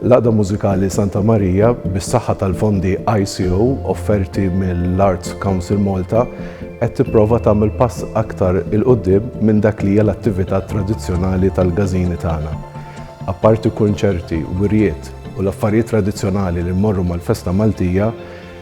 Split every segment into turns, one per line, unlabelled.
L-Għaqda Mużikali Santa Marija, bis-saħħa tal-fondi ICO offerti mill-Arts Council Malta, qed tipprova tagħmel pass aktar il-qudiem minn dak li hija l-attività tradizzjonali tal-gażini tagħna. Apparti kunċerti, wirjiet u l-affarijiet tradizzjonali li mmorru mal-festa Maltija,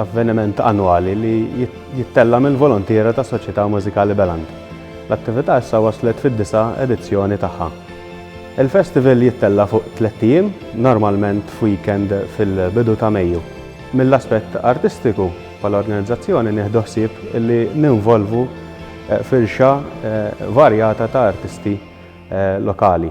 Avveniment annwali li jittella' mill-volontiera tas-Soċjetà Mużikali Beland. L-attività issa waslet fid-disa' edizzjoni tagħha. Il-festival jittella' fuq tlett ijiem, normalment f'weekend fil-bidu ta' Mejju. Mill-aspett artistiku, bħala organizzazzjoni nieħdu ħsieb li ninvolvu firxa varjata ta' artisti lokali.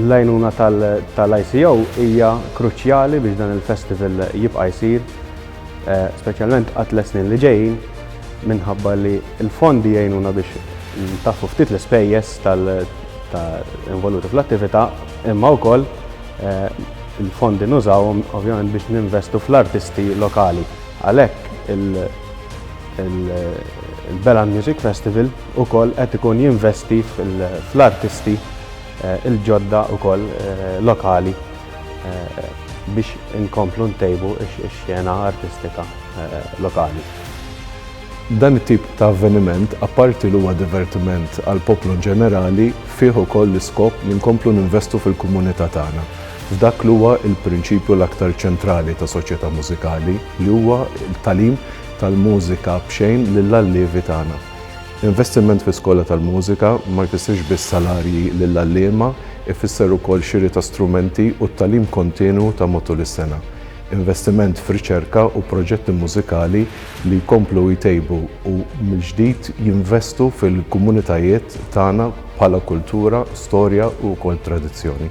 L-għajnuna
tal-ICO hija kruċjali biex dan il-festival jibqa' jsir, speċjalment għat-tliet snin li ġejjin, minħabba li l-fondi jgħinuna biex ntaffu ftit l-ispejjeż involuti fl-attività, imma wkoll il-fondi nużawhom ovvjament biex ninvestu fl-artisti lokali. Għalhekk il-Belan Music Festival ukoll qed ikun jinvesti fl-artisti il-ġodda wkoll lokali biex inkomplu ntejbu x-xena artistika lokali.
Dan it-tip ta' avveniment, apparti li huwa divertiment għall-poplu inġenerali, fih ukoll l-iskop li nkomplu ninvestu fil-komunità tagħna, f'dak li huwa l-prinċipju l-aktar ċentrali ta' soċjetà mużikali, li huwa t-tagħlim tal-mużika b'xejn lill-allievi tagħna. Investiment fi skola tal-mużika ma jfissirx biss salarji lill-għalliema, ifisser ukoll xiri ta' strumenti u t-tagħlim kontinwu ta' matul is-sena. Investiment f'riċerka u proġetti mużikali li jkomplu jtejbu u mill-ġdid jinvestu fil-komunitajiet tagħna bħala kultura, storja u wkoll tradizzjoni.